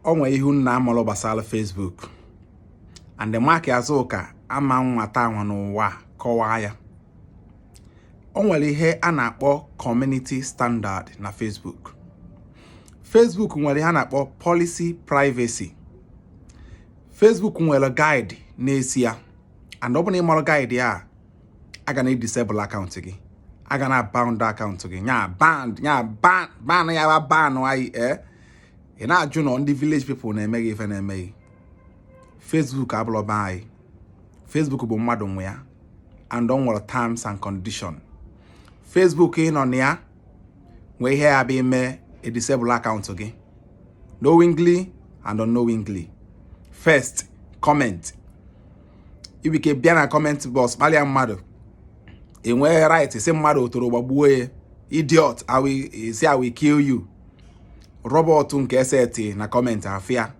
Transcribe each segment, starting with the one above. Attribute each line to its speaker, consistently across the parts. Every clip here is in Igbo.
Speaker 1: o nwere ihe unu na-amarọ gbasara Facebook and Mark Azuka ama nwata ahụ n'ụwa kọwaa ya o nwere ihe a na-akpọ community standard na Facebook Facebook nwere ihe a na-akpọ policy privacy Facebook nwere guide na-ezi ya and ọ bụrụ na ị marọ guide a a ga na-edisable akaụntụ gị a ga na-aban akaụntụ gị ị na-ajụ na ndị village people na-eme gị ife na-eme gị Facebook abụlọ be anyị Facebook bụ mmadụ nwe ya and ọ nwere terms and condition Facebook ị nọ na ya e nwee ihe ya-abụ i mee edisable akaụntụ gị knowingly and unknowingly first comment ibike bịa na comment box kpalịa mmadụ i nweghị right sị mmadụ otoro gbagbuo ya idiot sị I will kill you robot nke e seti na comment afịa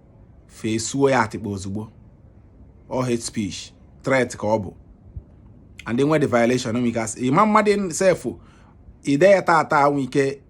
Speaker 1: fesuo ya atịkpa ozugbo ọ hate speech threat ka ọ bụ and i nwete violation ị ma-amadị sef i dee ya tata o nwee ike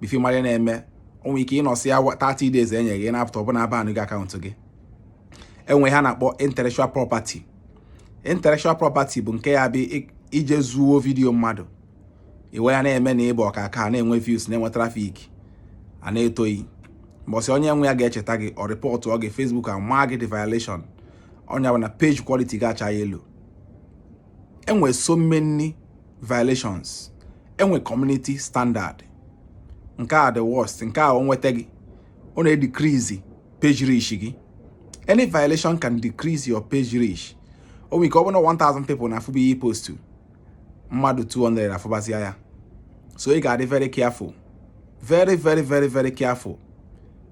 Speaker 1: before ị mara ihe na-eme o nwee ike nọsịa 30 days enye gị na-apụta ọ bụ na abanụgo akaụntụ gị e nwee ihe a na-akpọ intellectual property intellectual property bụ nke ya-abụ i jee zuo vidiyo mmadụ i wee ya na-eme na ị bụ ọkaaka na-enwe views na-enwe trafik a na-eto gị mbọsị onye nwe ya ga-echeta gị ọ rịpọtụọ gị Facebook amagide gị violation ọ nya bụ na page quality ga-acha yellow e nwee so many violations e nwee community standard nke a the worst nke a o nweta gị ọ na-edecrease page reach gị any violation can decrease your page reach o nwere ike ọ bụrụ 1000 people na-afụbu ihe ị postu mmadụ 200 afụbazia ya so ị ga-adị very careful very very very very careful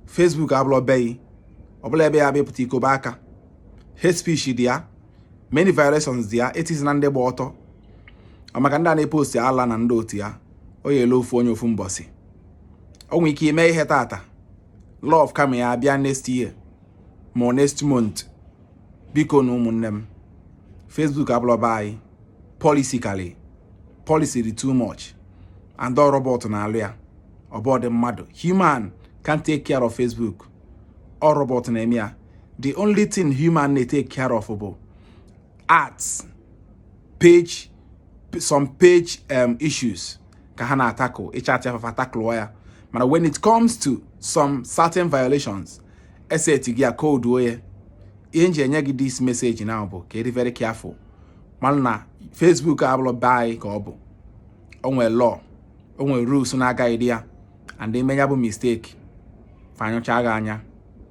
Speaker 1: Facebook abụlọ be gị ọ bụlọ ebe ya-abụ ị pụta i kobe aka hate speech dị ya many violations dị ya etizi na ndị gba ọtọ maka ndị a na-epost ala na ndị otu ya ọ ya-eli ofu onye ofu mbọsị o nwere ike i mee ihe tata law of karma ya abịa next year ma next month biko nụ ụmụnne m Facebook abụlọ be anyị policy kali policy dị too much and ọ robot na-alụ ya ọ bụlọdị mmadụ human can't take care of Facebook ọ robot na-eme ya the only thing human na-etake care of bụ arts page some page um, issues ka ha na-atackle ịcha atị afafa taklụọ ya mana when it comes to some certain violations e setigo ya code oye ihe m ji enye gị this message now bụ ka ị dị very careful maka na Facebook abụrọ be anyị ka ọ bụ o nwe law o nwe rules na-aguide ya and i mee nya bụ mistake fa anyụcha gị anya